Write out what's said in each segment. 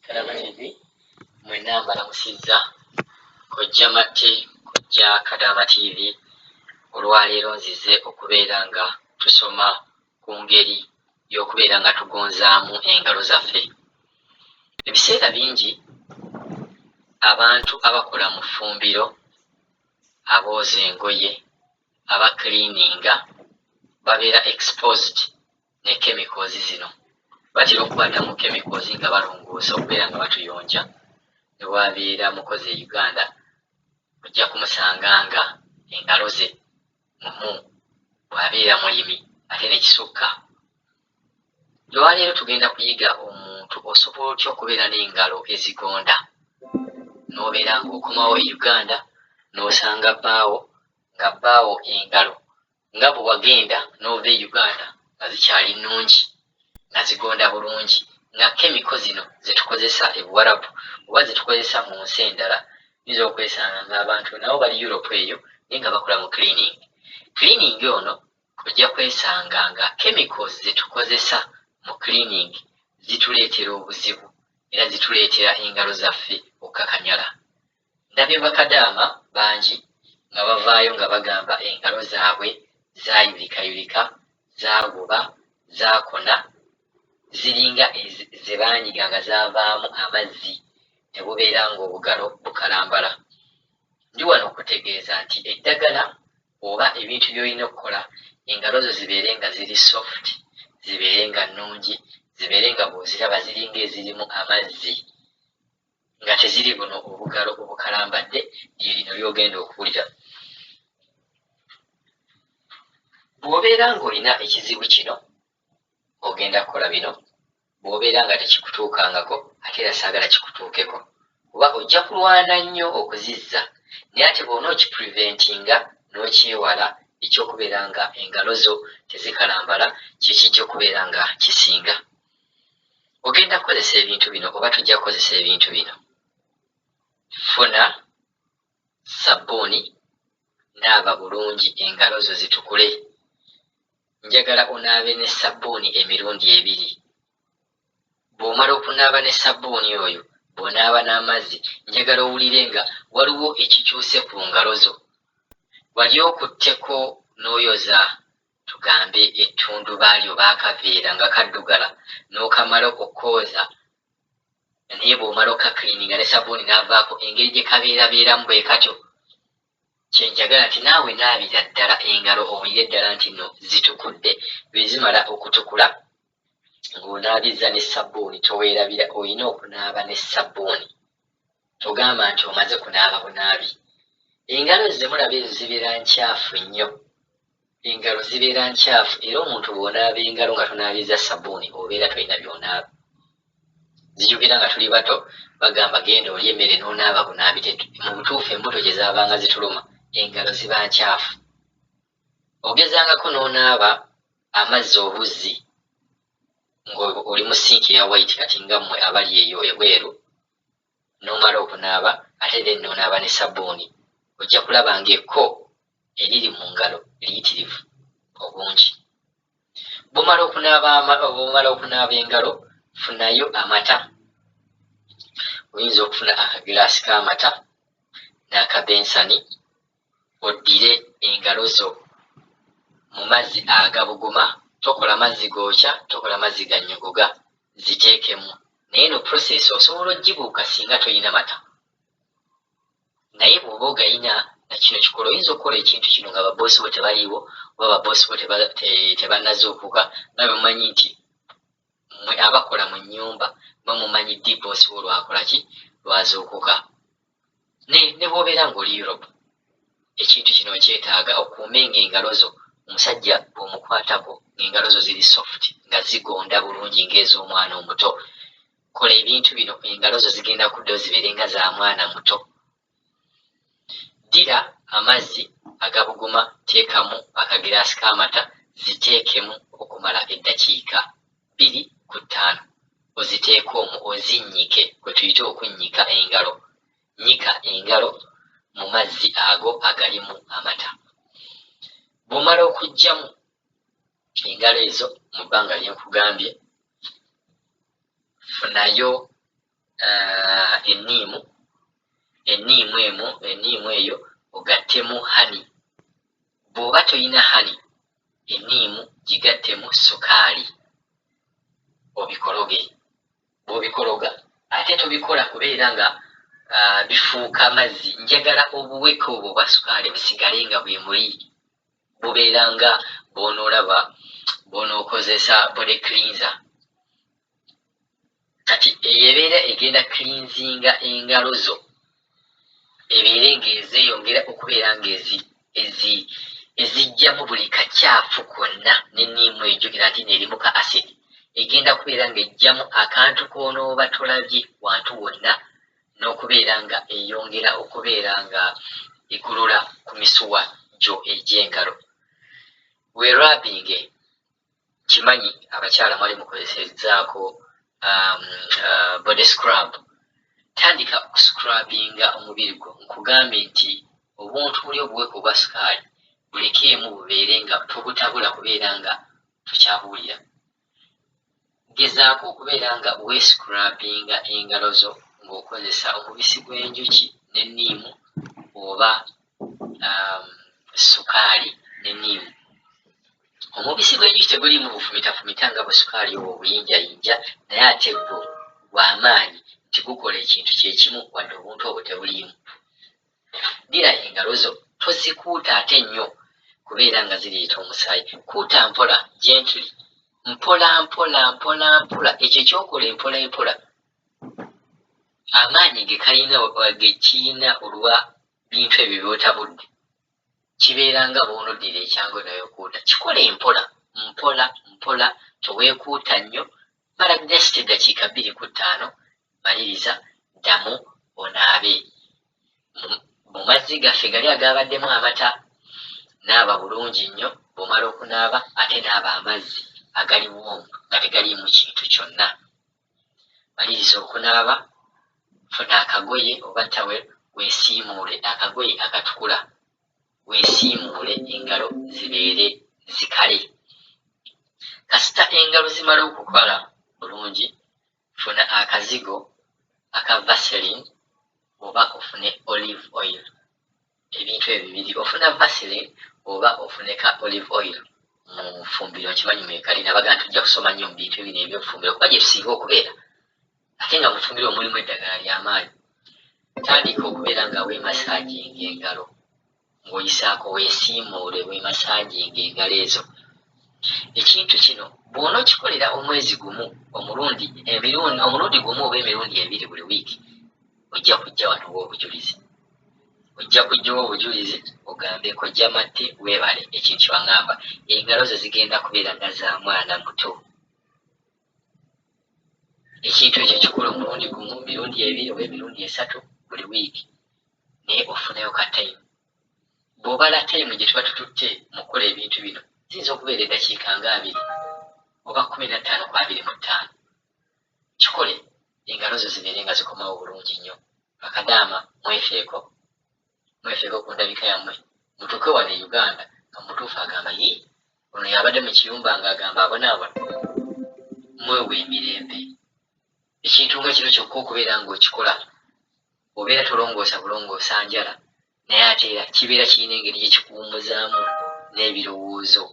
Kadabagizi mwenna mbalamusizza kojja Matte, kojja Kadaama TV. Olwaleero nzize okubeera nga tusoma ku ngeri y'okubeera nga tugonzaamu engalo zaffe. Ebiseera bingi abantu abakola mu ffumbiro, abooza engoye, abakiliininga babeera exposed ne kemikozi zino batera okubatamu kemikozi nga balongoosa okubeera nga batuyonja ne bwabeera mukozi e Uganda ojja kumusanga nga engalo ze mumu bw'abeera mulimi ate ne kisukka. Olwaleero tugenda kuyiga omuntu osobola otya okubeera n'engalo ezigonda n'obeera ng'okomawo e Uganda n'osanga bbaawo nga bbaawo engalo nga bwe wagenda n'ova e Uganda nga zikyali nnungi nga zigonda bulungi nga kemiko zino ze tukozesa e Buwarabu oba ze tukozesa mu nsi endala oyinza okwesanga ng'abantu nabo bali Europe eyo naye nga bakola mu cleaning. Cleaning ono ojja kwesanga nga chemicals ze tukozesa mu cleaning zituleetera obuzibu era zituleetera engalo zaffe okukakanyala. Ndabye bakadaama bangi nga bavaayo nga bagamba engalo zaabwe zaayulikayulika, zaaguba, zaakona, ziringa ze baanyiga nga zaavaamu amazzi ne bubeera ng'obugalo bukalambala. Ndi wano okukutegeeza nti eddagala oba ebintu by'olina okukola engalo zo zibeere nga ziri soft, zibeere nga nnungi, zibeere nga bw'oziraba ziringa ezirimu amazzi. nga teziri buno obugalo obukalambadde lye lino ly'ogenda okuwulira. Bw'obeera ng'olina ekizibu kino ogenda kukola bino, bw'obeera nga tekikutuukangako ate era saagala kikutuukeko kuba ojja kulwana nnyo okuzizza naye ate bw'ona okipreventinga n'okyewala eky'okubeera nga engalo zo tezikalambala kye kijja okubeera nga kisinga. ogenda kukozesa ebintu bino oba tujja kukozesa ebintu bino funa sabbuuni naaba bulungi engalo zo zitukule njagala onaabe ne sabbuuni emirundi ebiri bw'omala okunaaba ne sabbuuni oyo bw'onaaba n'amazzi njagala owulire nga waliwo ekikyuse ku ngalo zo wali okutteko n'oyoza tugambe ettundubaali oba akaveera nga kaddugala n'okamala okukooza naye bw'omala okukakliininga ne sabbuuni n'avaako engeri gye kabeerabeeramu bwe katyo. Kye njagala nti naawe naabira ddala engalo owulire ddala nti nno zitukudde. Bwe zimala okutukula ng'onaabizza ne sabbuuni toweerabira olina okunaaba ne sabbuuni togamba nti omaze kunaaba bunaabi engalo zze mulaba ezo zibeera ncaafu nnyo. Engalo zibeera nkyafu era omuntu bw'onaaba engalo nga tonaabizza ssabuuni obeera tolina by'onaaba. Zijukira nga tuli bato bagamba genda olye emmere n'onaaba bunaabi, mu butuufu embuto gye zaabanga zituluma engalo ziba nkyafu. Ogezangako n'onaaba amazzi obuzzi ng'oli mu sinki eya wayiti kati nga mmwe abali eyo ebweru n'omala okunaaba ate then n'onaaba ne sabbuuni ojja kulaba ng'ekko eriri mu ngalo liyitirivu obungi. Bw'omala okunaaba bw'omala okunaaba engalo funayo amata oyinza okufuna akagiraasi k'amata n'akabensani oddire engalo zo mu mazzi agabuguma, tokola mazzi gookya, tokola mazzi gannyogoga, ziteekemu. Naye eno process osobola ogibuuka singa tolina mata, naye bw'oba ogalina nakino kikola oyinza okukola ekintu kino nga baboosi bo tebaliiwo oba baboosi bo tebanazuukuka nga bwe mumanyi nti mwe abakola mu nnyumba mwe mumanyi ddi boosi wo lwakola ki lwazuukuka naye ne bwobeera ng'oli Europe ekintu kino okyetaaga okuume ng'engalo zo omusajja bw'omukwatako ng'engalo zo ziri soft nga zigonda bulungi ng'ez'omwana omuto kola ebintu bino engalo zo zigenda kuddayo zibeere nga za mwana muto ddira amazzi agabuguma teekamu akagiraasi k'amata ziteekemu okumala eddakiika bbiri ku ttaano oziteeke omwo ozinnyike kwe tuyita okunnyika engalo. Nnyika engalo mu mazzi ago agalimu amata. Bw'omala okuggyamu engalo ezo mu bbanga lye nkugambye, funayo uh, enniimu enniimu emu enniimu eyo ogattemu hani. Bw'oba tolina hani enniimu gigattemu ssukaali obikologe. Bw'obikologa ate tobikola kubeera nga bifuuka mazzi, njagala obuweke obwo obwa ssukaali busigale nga bwe muli, bubeera nga bw'onoolaba bw'onookozesa body cleanser. kati eyo ebeera egenda cleansinga engalo zo ebeere ng'ezeyongera okubeera ng'ezi ezi ezijjamu buli kakyafu konna n'enniimu egyo era ate neerimu ka acid egenda kubeera ng'ejjamu akantu k'onooba tolabye wantu wonna n'okubeera nga eyongera okubeera nga egolola ku misuwa gyo egy'engalo weerabinge nkimanyi abakyala mwali mukozesezaako um, uh, body scrub tandika okuscrubinga omubiri gwo nkugambye nti obuntu buli obuweka obwa sukaali bulekeemu bubeere nga tobutabula kubeera nga tukyabuwulira Gezaako okubeera nga weescrubbinga engalo zo ng'okozesa omubisi gw'enjuki ne niimu oba ssukaali ne niimu. Omubisi gw'enjuki teguliimu bufumitafumita nga bwe sukaali obwo obuyinjayinja naye ate gwo gwa maanyi nti gukola ekintu kye kimu wadde obuntu obwo tebuliimu. Ddira engalo zo, tozikuutaate nnyo kubeera nga zireeta omusaayi. Kuuta mpola, gently, mpolampola, mpolampola. Ekyo ky'okola empolampola amaanyi ge kalina ge kirina olwa bintu ebyo by'otabudde kibeera nga bw'onoddira ekyangu naye okuuta. Kikole mpola mpola mpola, toweekuuta nnyo Mala just eddakiika bbiri ku ttaano, maliriza, ddamu onaabe mu mazzi gaffe gali agaabaddemu amata. Naaba bulungi nnyo bw'omala okunaaba ate naaba amazzi agali woomu nga tegaliimu kintu kyonna. Maliriza okunaaba, funa akagoye oba towel weesiimuule akagoye akatukula Weesiimuule engalo zibeere zikale. Kasita engalo zimala okukala bulungi, funa akazigo aka Vaseline oba ofune olive oil, ebintu ebyo bibiri ofuna Vaseline oba ofune ka olive oil mu nfumbiro nkimanyi mwekali nabaga nti ojja kusoma nnyo mu bintu bino ebyobufumbiro kuba gye tusinga okubeera ate nga mufumbiro omulimu eddagala ly'amaanyi, tandika okubeera nga weemasaaginga engalo ng'oyisaako weesiimuule weemasaaginga engalo ezo. Ekintu kino bw'onookikolera omwezi gumu omulundi emirundi omulundi gumu oba emirundi ebiri buli wiiki ojja kujja wano oba obujulizi ojja kujjawo obujulizi ogambe kojja matte weebale ekintu kyewaŋamba engalo ze zigenda kubeera nga za mwana muto. ekintu ekyo kikula omulundi gumu mirundi ebiri oba emirundi esatu buli wiiki naye ofunayo ka tayimu bw'obala tayimu gye tuba tututte mu kukola ebintu bino ziyinza okubeera eddakiika nga abiri oba kumi na ttaano ku abiri mu ttaano kikole engalo zo zibeere nga zikomawo bulungi nnyo bakadaama mwefeeko mwefeeko ku ndabika yammwe mutuuke wano e uganda nga mutuufu agamba yi ono yabadde mu kiyumba nga agamba abonaabona mwewa emirembe ekintu nga kino kyokka okubeera ng'okikola obeera tolongoosa bulongoosa njala naye ate era kibeera kirina engeri gye kikuwumuzaamu n'ebirowoozo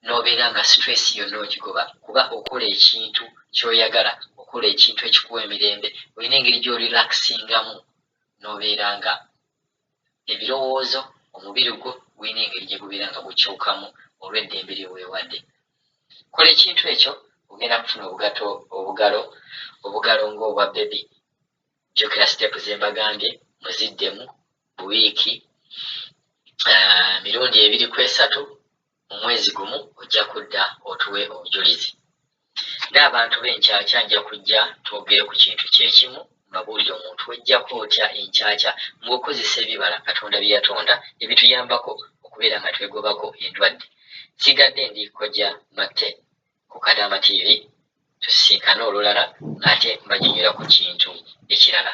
n'obeera nga stress yonna ogigoba kuba okola ekintu ky'oyagala okola ekintu ekikuwa emirembe olina engeri gy'orelaxingamu n'obeera nga ebirowoozo, omubiri gwo gulina engeri gye gubeera nga gukyukamu olw'eddembe lye weewadde. Kola ekintu ekyo, ogenda kufuna obugato obugalo obugalo ng'obwa bbebi. Jjukira siteepu ze mbagambye, muziddemu buwiiki ah, mirundi ebiri ku esatu mu mwezi gumu ojja kudda otuwe obujulizi. Ng'abantu b'enkyakya nja kujja twogere ku kintu kye kimu, mbabuulire omuntu w'eggyako otya enkyakya ng'okozesa ebibala Katonda bye yatonda ebituyambako okubeera nga twegobako endwadde. Nsigadde ndi Kojja Matte ku Kadaama TV. Tusisinkane olulala ng'ate mbanyonyola ku kintu ekirala.